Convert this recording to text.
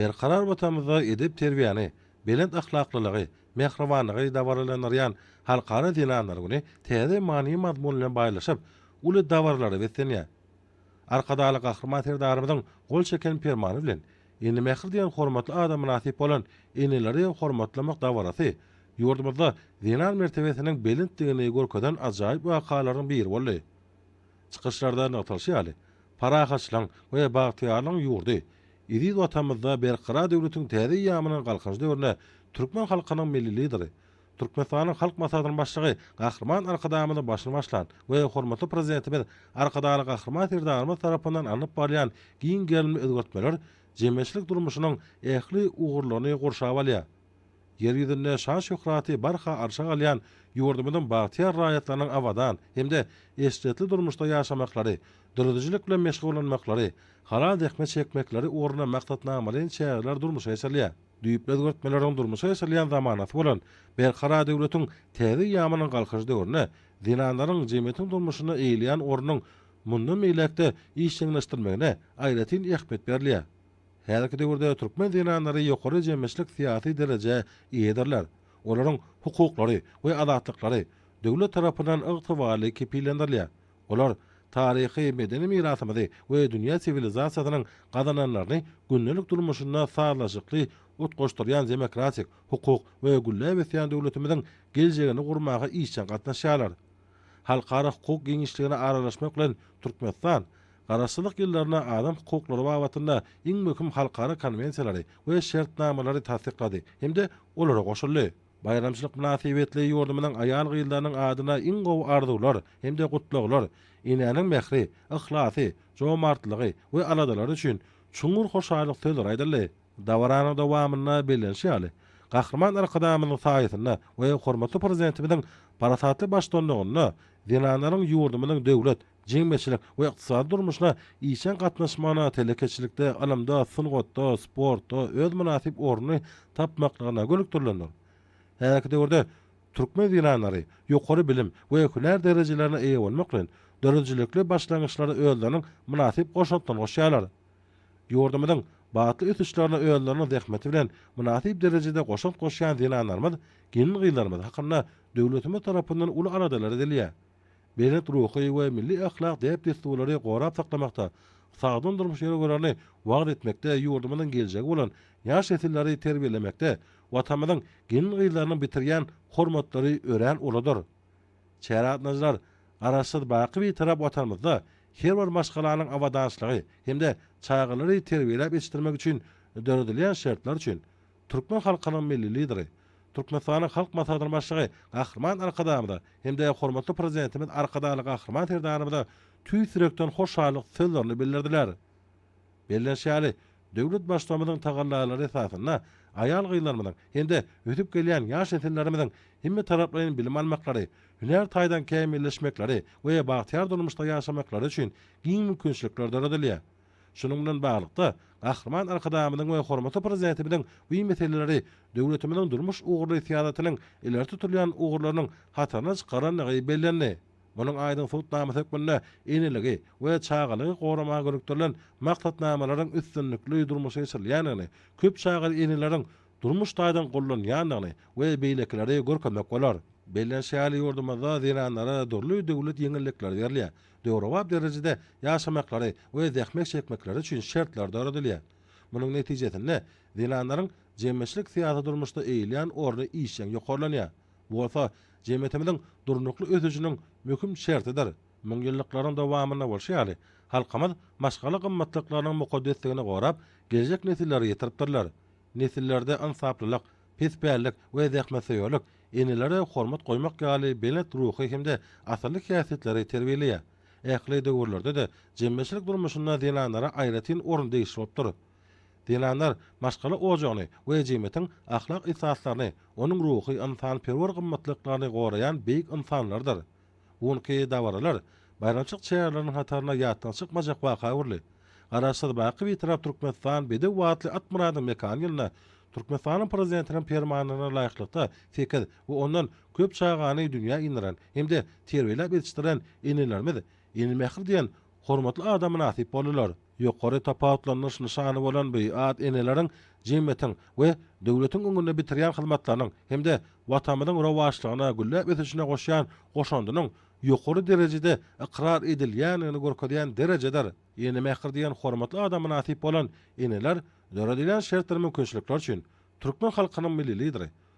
Berkarar Watanymyzda edep-terbiýäni, belent ahlaklylygy, mähribanlygy dabaralandyrýan Halkara zenanlar güni täze many-mazmun bilen baýlaşyp, uly dabaralara beslenýär. Arkadagly Gahryman Serdarymyzyň gol çeken Permany bilen Ene mähir diýen hormatly ada mynasyp bolan Eneleri hormatlamak dabarasy ýurdumyzda zenan mertebesiniň belentdigini görkezen ajaýyp wakalaryň biri boldy. Çykyşlarda nygtalyşy ýaly, parahatçylygyň we bagtyýarlygyň ýurdy, Eziz Watanymyzda Berkarar döwletiň täze eýýamynyň Galkynyş döwründe türkmen halkynyň Milli Lideri, Türkmenistanyň Halk Maslahatynyň Başlygy Gahryman Arkadagymyzyň başyny başlan we hormatly Prezidentimiz Arkadagly Gahryman Serdarymyz tarapyndan alnyp barylýan giň gerimli özgertmeler jemgyýetçilik durmuşynyň ähli ugurlaryny gurşap alýar. Ýer ýüzünde şan-şöhraty barha arşa galýan ýurdumyzyň bagtyýar raýatlarynyň abadan hem-de eşretli durmuşda ýaşamaklary, döredijilik bilen meşgullanmaklary, halal zähmet çekmekleri ugrunda maksatnamalaýyn çäreler durmuşa geçirilýär. Düýpli özgertmeleriň durmuşa geçirilýän zamanasy bolan Berkarar döwletiň täze eýýamynyň Galkynyş döwründe zenanlaryň jemgyýetiň durmuşynda eýeleýän ornunyň mundan beýläk-de işjeňleşdirilmegine aýratyn ähmiýet berilýär. Häzirki döwürde türkmen zenanlary ýokary jemgyýetçilik-syýasy derejä eýedirler, olaryň hukuklary we azatlyklary döwlet tarapyndan ygtybarly kepillendirilýär. Olar taryhy-medeni mirasymyzy we dünýä siwilizasiýasynyň gazananlaryny gündelik durmuşynda sazlaşykly utgaşdyrýan demokratik, hukuk we gülläp ösýän döwletimiziň geljegini gurmaga işjeň gatnaşýarlar. Halkara hukuk giňişligine aralaşmak bilen Türkmenistan Garaşsyzlyk ýyllarynda adam hukuklary babatynda iň möhüm halkara konwensiýalary we şertnamalary tassyklady hem-de olara goşuldy. Baýramçylyk mynasybetli ýurdumyzyň aýal-gyzlarynyň adyna iň gowy arzuwlar hem-de gutlaglar, enäniň mähri, yhlasy, jomartlygy we aladalary üçin çuňňur hoşallyk sözleri aýdyldy. Dabaranyň dowamynda bellenişi ýaly, Gahryman Arkadagymyzyň saýasynda we hormatly Prezidentimiziň parasatly baştutanlygynda zenanlaryň ýurdumyzyň döwlet, jemgyýetçilik we ykdysady durmuşyna işjeň gatnaşmagyna, telekeçilikde, ylymda, sungatda, sportda öz mynasyp ornuny tapmaklygyna gönükdirilendir. Häzirki döwürde türkmen zenanlary ýokary bilim we hünär derejelerine eýe bolmak bilen, döredijilikli başlangyçlara özleriniň mynasyp goşantlaryny goşýarlar. Ýurdumyzyň batly ösüşlerine özleriniň zähmeti bilen mynasyp derejede goşant goşýan zenanlarymyz, gelin-gyzlarymyz hakynda döwletimiz tarapyndan uly aladalar edilýär. belent ruhy we milli ahlak däp-dessurlary gorap saklamakda, sagdyn durmuş ýörelgelerini wagyz etmekde, ýurdumyzyň geljegi bolan ýaş nesilleri terbiýelemekde Watanymyzyň gelin-gyzlarynyň bitirýän hormatlary örän uludyr. Çäregatnaşyjylar Garaşsyz, baky Bitarap Watanymyzda her bir maşgalanyň abadançylygy hem-de çagalary terbiýeläp ýetişdirmek üçin döredilýän şertler üçin Türkmen halkynyň Milli Lideri, Türkmenistanyň Halk Maslahatynyň Başlygy Gahryman Arkadagymyza hem-de hormatly Prezidentimiz Arkadagly Gahryman Serdarymyza tüýs ýürekden hoşallyk sözlerini bildirdiler. Bellenşi ýaly, döwlet Baştutanymyzyň tagallalary esasynda aýal-gyzlarymyzyň hem-de ösüp gelýän ýaş nesillerimiziň hemmetaraplaýyn bilim almaklary, hünär taýdan kämilleşmekleri we bagtyýar durmuşda ýaşamaklary üçin giň mümkinçilikler döredilýär. Şunuň bilen baglylykda, Gahryman Arkadagymyzyň we hormatly Prezidentimiziň bu meseleleri döwletimiziň durmuş ugurly syýasatynyň ileri tutulýan ugurlarynyň hataryna çykarandygy bellendi. Munuň aýdyň subutnamasy hökmünde eneligi we çagalygy goramaga gönükdirilen maksatnamalaryň üstünlikli durmuşa geçirilýändigini, köp çagaly eneleriň durmuş taýdan gollanýandygyny we beýlekileri görkezmek bolar. Bellenşi ýaly, ýurdumyzda zenanlara dürli döwlet ýeňillikleri berilýär. döwrebap derejede ýaşamaklary we zähmet çekmekleri üçin şertler döredilýär. Munuň netijesinde, zenanlaryň jemgyýetçilik-syýasy durmuşda eýeleýän orny işjeň ýokarlanýar. Bu bolsa jemgyýetimiziň durnukly ösüşiniň möhüm şertidir. Müňýyllyklaryň dowamynda bolşy ýaly, halkymyz maşgala gymmatlyklarynyň mukaddesligini gorap, geljek nesillere ýetiripdirler. Nesillerde ynsaplylyk, pespällik we zähmetsöýerlik enelere hormat goýmak ýaly belent ruhy hem-de asylly häsiýetleri terbiýeleýär. Ähli döwürlerde-de jemgyýetçilik durmuşynda zenanlara aýratyn orun degişli bolupdyr. Zenanlar maşgala ojagyny we jemgyýetiň ahlak esaslaryny, onuň ruhy-ynsanperwer gymmatlyklaryny goraýan beýik ynsanlardyr. Bu günki dabaralar baýramçylyk çäreleriniň hataryna ýatdan çykmajak waka öwrüldi. Garaşsyz, baky Bitarap Türkmenistan bedew atly Atmyradyň mekan ýylynda Türkmenistanyň Prezidentiniň permanlaryna laýyklykda sekiz we ondan köp çagany dünýä inderan hem-de terbiýeläp ýetişdiren enelerimiz Ene mähir diýen Hormatly ada mynasyp boldylar. Ýokary tapawutlandyryş nyşany bolan bu at eneleriň jemgyýetiň we döwletiň öňünde bitirýän hyzmatlarynyň hem-de Watanymyzyň rowaçlygyna, gülläp ösüşine goşýan goşandynyň ýokary derejede ykrar edilýändigini görkezýän derejedir. Ene mähir diýen hormatly ada mynasyp bolan eneler döredilen şertler-mümkinçilikler üçin türkmen halkynyň Milli Lideri,